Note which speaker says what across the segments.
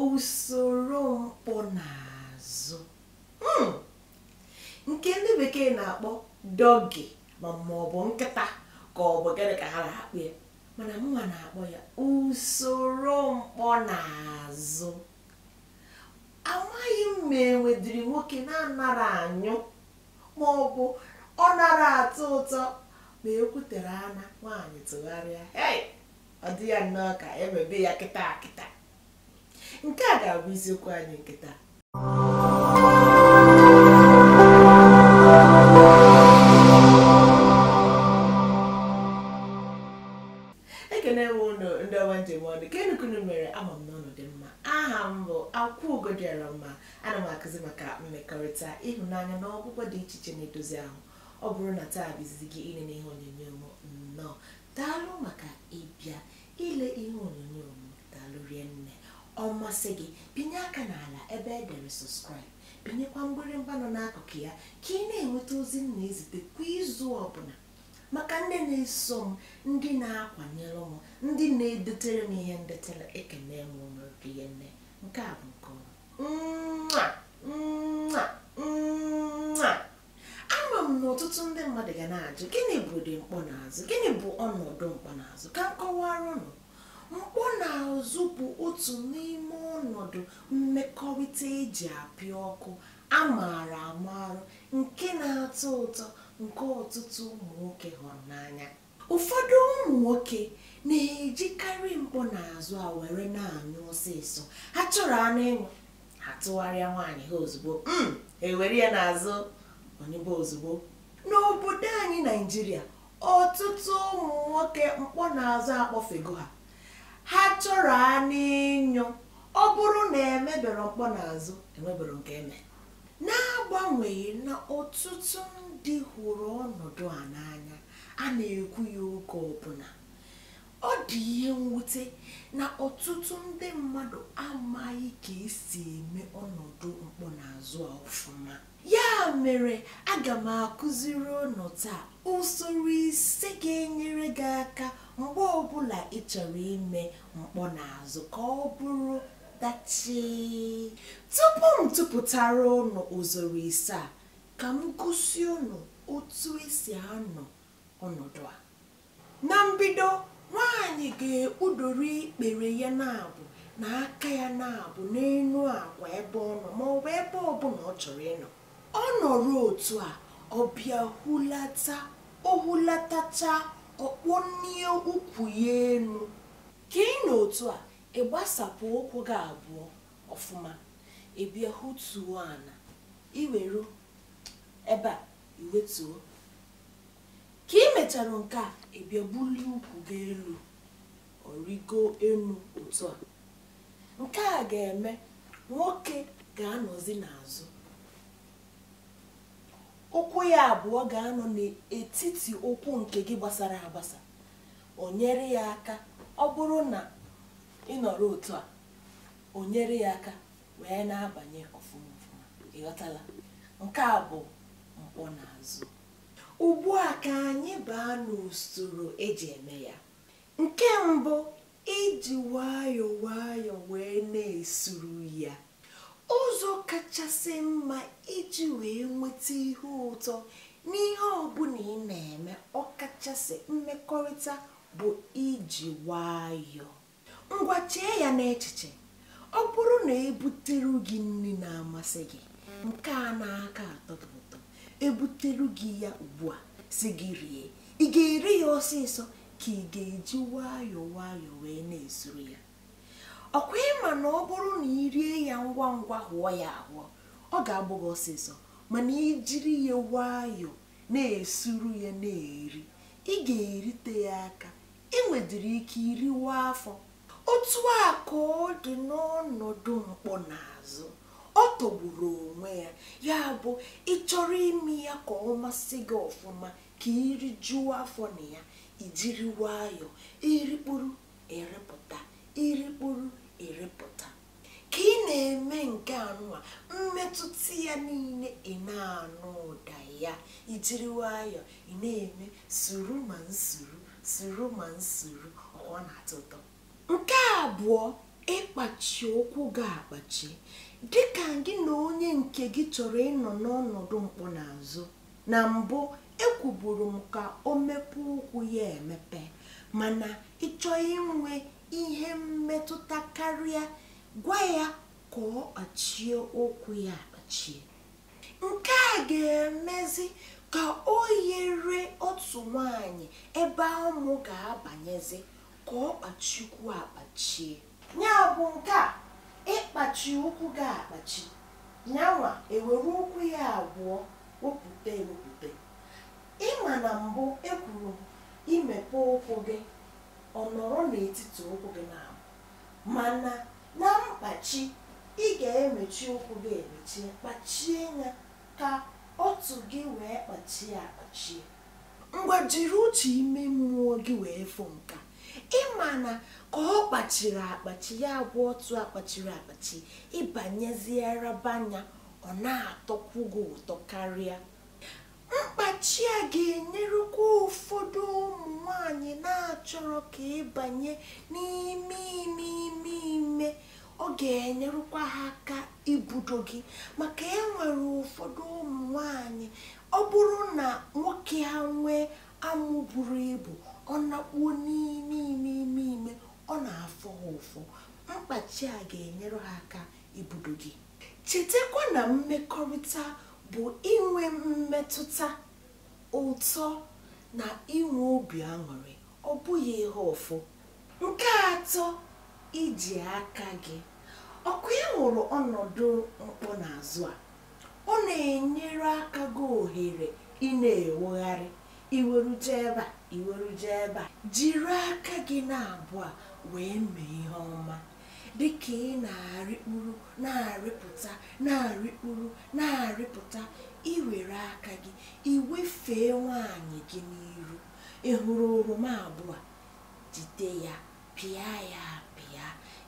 Speaker 1: usoro mkpọ n'azụ hmm. nke ndị bekee na-akpọ doggy ma ọ bụ nkịta ka ọ bụ gịnị ka ha na-akpọ ya mana mụnwa na-akpọ ya usoro mkpọ n'azụ amaghị m ma e nwedịrị nwoke na-anara anyụ ma ọ bụ ọ nara atọ ụtọ ma ekwutere ana nwaanyị tụgharịa ọ dị ya nnọọ ka emebe ya kịta kịta nke a ga-abụ isiokwu anyị nke taa ekene m ụnụ ndị ọma m ji eme ọnụ keenụ ka ụnụ mere ama m na ụnụ dị mma aha m bụ akwaugo dịara mma ana m akụzi maka mmekọrịta ịhụnanya na ọgwụgwọ dị iche iche na-edozi ahụ ọ bụrụ na taa bụ izizi gị ịnene ihe onyonyo m nnọọ daalụ maka ịbịa ile ihe onyonyo m daalụ rie nne ọ masị gị binye aka n'ala ebe e dere subscribe binyekwa mgbịrịmgba nọ n'akụkụ ya ka ị na-enweta ozi m na-ezite kwa izu ọbụla maka ndị na-eso m ndị na-akwanyere m ndị na-edetere m ihe ndetere ekene m unu rie nne nke a bụ nke ọma ama m na ọtụtụ ndị mmadụ ga na-ajụ gịnị bụ ụdị mkpọ n'azụ gịnị bụ ọnọdụ mkpọ n'azụ ka m kọwara ụnụ mkpọ n'azụ bụ otu n'ime ọnọdụ mmekọrịta eji apịa ọkụ a maara amara nke na-atọ ụtọ nke ọtụtụ ụmụ nwoke hụrụ n'anya ụfọdụ ụmụ nwoke na-ejikarị mkpọ n'azụ a were na-anyụ ọsịsọ ha chọrọ anụ ịnyụ ha tụgharịa nwaanyị ha ozugbo mm, ewere ya n'azụ ọ nyụbe ozugbo n'obodo anyị naịjirịa ọtụtụ ụmụ nwoke mkpọ n'azụ akpọfego ha ha chọrọ anụ ịnyụ ọ bụrụ na emebere mkpọ n'azụ emebere nke eme n'agbanweghị na ọtụtụ ndị hụrụ ọnọdụ a n'anya a na-ekwu ya oge ọbụla ọ dị ihe mwute na ọtụtụ ndị mmadụ amaghị ka esi eme ọnọdụ mkpọ n'azụ a ọfụma ya mere aga m akụziri unu taa usoro ise ga-enyere gị aka mgbe ọbụla ị chọrọ ime mkpọ n'azụ ka ọ bụrụ dachi tupu m tụpụtara unu usoro ise a ka m gosi unu otu esi anọ ọnọdụ a na mbido nwaanyị ga-ekpudoro ikpere ya naabọ na aka ya naabọ n'elu akwa ebe ọ nọ ma ọ bụ ebe ọbụla ọ chọrọ ịnọ ọ nọrọ otu a ọ bịa hulata o hulatachaa ọ kpọnie ukwu ya elu ka ị nọ otu a ị gbasapụ ụkwụ gị abụọ ọfụma ị bịa hutuo ana i weru ebe a i wetuo ka ị mechara nke a ị bịa bulie ukwu gị elu ọ rịgo elu otu a nke a ga-eme nwoke ga-anọzi n'azụ ụkwụ ya abụọ ga-anọ n'etiti ụkwụ nke gị gbasara agbasa o nyere ya aka ọ bụrụ na ị nọrọ otu a o nyere ya aka wee na-abanye ọfụma ọfụma ị ghọtala nke a bụ mkpọ n'azụ ugbu a ka anyị baa n'usoro eji eme ya nke mbụ iji nwayọọ nwayọọ wee na-esuru ya ụzọ kachasị mma iji wee nweta ihe ụtọ n'ihe ọbụla ị na-eme ọkachasị mmekọrịta bụ iji nwayọọ ngwa chee ya n'echiche ọ bụrụ na ebutere gị nri na-amasị gị nke a na-aka atọ gị ụtọ ebutere gị ya ugbu a sị gị rie ị ga-eri ya ọsịsọ ka ị ga-eji nwayọọ nwayọọ wee na-esuru ya ọ kwa ị ma na ọ bụrụ na ị rie ya ngwa ngwa hụọ ya ahụọ ọ ga-agbụ gị ọsịsọ mana i jiri ya nwayọọ na-esuru ya na-eri ị ga-erite ya aka i nwedịrị ike iriwa afọ otu a ka ọ dị n'ọnọdụ mkpọ n'azụ ọ tọgburu onwe ya ya bụ ị chọrọ ime ya ka ọ masị gị ọfụma ka i rijuo afọ na ya i jiri nwayọọ i rikpuru ị rịpụta i rikpuru ị rịpụta ka ị na-eme nke a nụwa mmetụta ya niile ị na-anụ ụda ya i jiri nwayọọ ị na-eme suru ma nsuru suru ma nsuru ọ na-atọ ụtọ nke abụọ ịkpachi ụkwụ gị akpachi dịka gị na onye nke gị chọrọ ịnọ n'ọnọdụ mkpọ n'azụ na mbụ ekwuburu m ka o mepee ụkwụ ya emepe mana ị chọọ inwe ihe mmetụta karịa gwa ya ka ọ kpachie ụkwụ ya akpachie nke a ga-emezi ka oyere ọtụ nwanyị ebe amụ ga-abanyezi ka ọ kpachikwu akpachie ya bụ nke a ịkpachi ụkwụ gị akpachi nyanwa ewere ụkwụ ya abụọ wepụta ewepụta ịma na mbụ ekwuru imepe ụkwụ gị ọ nọrọ n'etiti ụkwụ gị na mana na mkpachi ị ga-emechi ụkwụ gị emechie kpachie ya ka ọtụ gị wee kpachie akpachie ngwa jiri uche ime mmụọ gị wee fụ nka ịma na ka ọ kpachiri akpachi ya bụ ọtụ akpachiri akpachi ịbanyezie raba nya ọ na-atọkwu gị ụtọ karịa Mkpachi a ga-enyerekwa ụfọdụ ụmụ nwanyị na-achọrọ ka ịbanye n'ime ime ime ime ọ ga-enyerekwa ha aka ibudo gị maka e nwere ụfọdụ ụmụ nwanyị ọ bụrụ na nwoke ha nwee amụ buru ibu ọ nakpuo n'ime ime ime ime ọ na-afụ ha ụfụ mkpachi a ga-enyere ha aka ibudo gị chetakwa na mmekọrịta bụ inwe mmetụta ụtọ na inwe obi aṅụrị ọ bụghị ihe ụfụ nke atọ iji aka gị ọkwa ị hụrụ ọnọdụ mkpọ n'azụ a ọ na-enyere aka gị ohere ị na-ewegharị iweru jee ebe a iweru jee ebe a jiri aka gị n'abụọ wee mee ihe ọma dịka ị na-arịkpuru na-arịpụta na-arịkpuru na-arịpụta iwere aka gị iwefee nwaanyị gị n'iru ị hụrụ oroma abụọ jide ya pịa ya apịa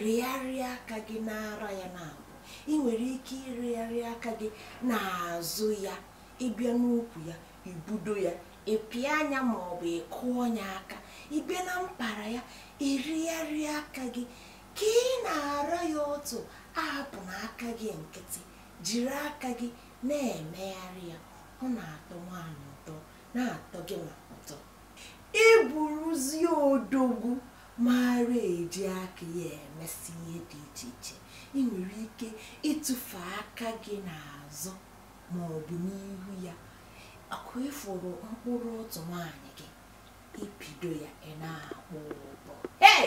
Speaker 1: rịgharịa aka gị n'ara ya naabọ ị nwere ike ịrịgharị aka gị n'azụ ya ịbịa n'ukwu ya ibudo ya ịpịa nya ma ọ bụ ịkụọ nya aka ịbịa na mpara ya ịrịgharị aka gị ka ị na-ara ya ọtụ ahapụna aka gị nkịtị jiri aka gị na-emegharị ya ọ na-atọ nwaanyị ụtọ na-atọ gị nwa ụtọ ịbụrụzie odogwu mara eji aka ya emesi ihe dị iche iche ị nwere ike ịtụfe aka gị n'azụ ma ọ bụ n'ihu ya aka ịfụrụ mkpụrụ ọtụ nwaanyị gị ịpịdo ya ị na-akpọ ụbọ ee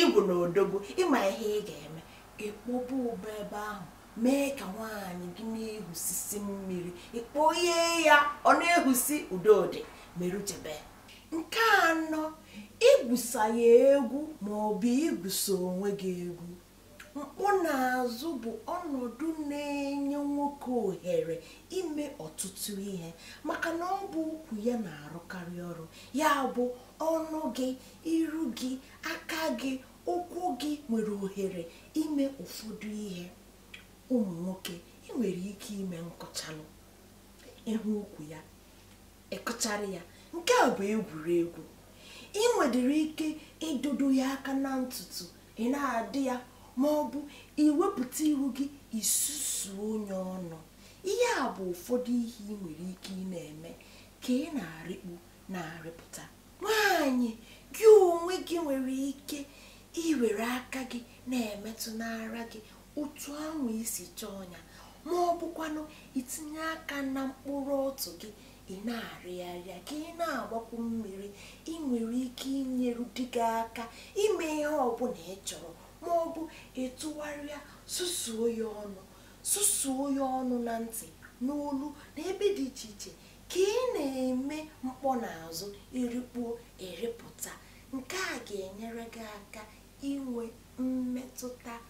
Speaker 1: ịbụ na odogwu ịma ihe ị ga-eme ịkpọba ụbọ ebe ahụ mee ka nwaanyị gị na-ehusisi mmiri ịkpọye ya ọ na-ehusi udodị merụchebe nke anọ igwusa ya egwu ma ọ bụ igwusa onwe gị egwu mkpọ n'azụ bụ ọnọdụ na-enye nwoke ohere ime ọtụtụ ihe maka na ọ bụ ukwu ya na-arụkarị ọrụ ya bụ ọnụ gị iru gị aka gị ụkwụ gị nwere ohere ime ụfọdụ ihe ụmụ nwoke ị nwere ike ime nkụchalụ ịhụ ukwu ya ịkụchara ya nke a bụ egwuregwu ị nwedịrị ike ịdọdo ya aka na ntutu ị na-adọ ya ma ọ bụ iwepụta ihu gị isusuo ya ọnụ ihe a bụ ụfọdụ ihe ị nwere ike ị na-eme ka ị na-arịkpu na-arịpụta nwaanyị gị onwe gị nwere ike iwere aka gị na-emetụ n'ara gị otu ahụ i si chọọ ya ma ọ bụkwanụ itinye aka na mkpụrụ ọtụ gị ị na-arịgharịa ka ị na-agbakwu mmiri ị nwere ike inyeru di gị aka ime ihe ọbụla ị chọrọ ma ọ bụ ịtụgharịa susuo ya ọnụ susuo ya ọnụ na ntị n'olu na ebe dị iche iche ka ị na-eme mkpọ n'azụ irikpuo eripụta nke a ga-enyere gị aka inwe mmetụta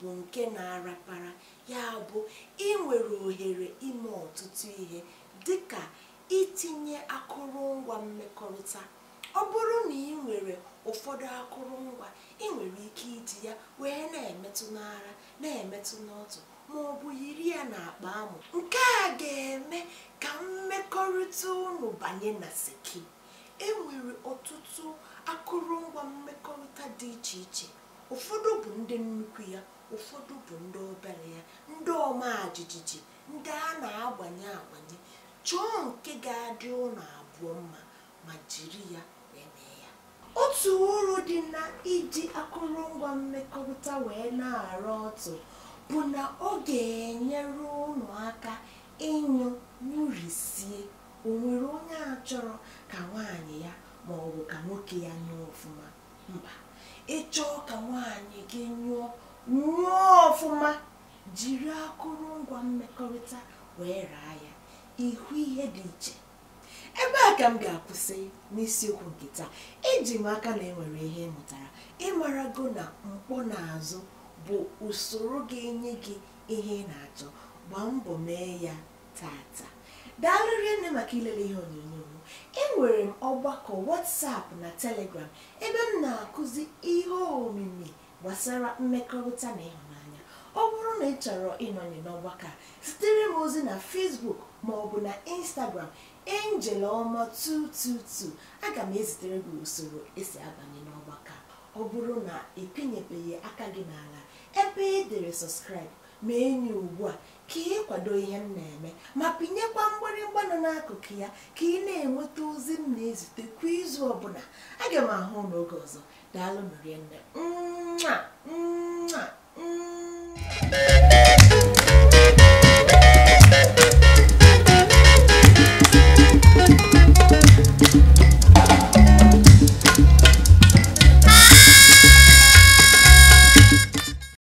Speaker 1: bụ nke na-arapara ya bụ ị nwere ohere ime ọtụtụ ihe dịka itinye akụrụngwa mmekọrịta ọ bụrụ na ị nwere ụfọdụ akụrụngwa ị nwere ike iji ya wee na-emetụ n'ara na-emetụ n'ọtụ ma ọ bụ yiri ya n'akpa amụ nke a ga-eme ka mmekọrịta unu banye na seki e nwere ọtụtụ akụrụngwa mmekọrịta dị iche iche ụfọdụ bụ ndị nnukwu ya ụfọdụ bụ ndị obere ya ndị ọma jijiji ndị a na-agbanye agbanye chọọ nke ga-adị unu abụọ mma ma jiri ya eme ya otu uru dị na iji akụrụngwa mmekọrịta wee na-ara ọtụ bụ na ọ ga-enyere unu aka ịnyụ nyụrisie o nwere onye achọrọ ka nwaanyị ya ma ọ bụ ka nwoke ya nyụọ ọfụma mba ịchọọ ka nwaanyị gị nyụọ nyụọ ọfụma jiri akụrụngwa mmekọrịta wee raa ya ịhụ ihe dị iche ebe a ka m ga-akwụsị n'isiokwu nke taa eji m aka na enwere ihe ị mụtara ịmarago na mkpọ n'azụ bụ usoro ga-enye gị ihe ị na-achọ gbaa mbọ mee ya tata daalụ rinne maka ilele ihe onyonyo m enwere m ọgbakọ WhatsApp na Telegram ebe m na-akụzi ihe omimi gbasara mmekọrịta na ịhụnanya ọ bụrụ na ị chọrọ ịnọnye n'ọgbakọ a zitere m ozi na Facebook ma ọ bụ na Instagram Angel Ọma 222 aga m ezitere gị usoro esi abanye n'ọgbakọ a ọ bụrụ na ị pịnyebeghị aka gị n'ala ebe e dere subscribe ma enyi ugbu a ka ị kwado ihe m na-eme ma pịnyekwa mgbịrịgba nọ n'akụkụ ya ka ị na-enweta ozi m na-ezite kwa izu ọbụla aga m ahụ unu oge ọzọ daalụ nụ rinne nwa nwa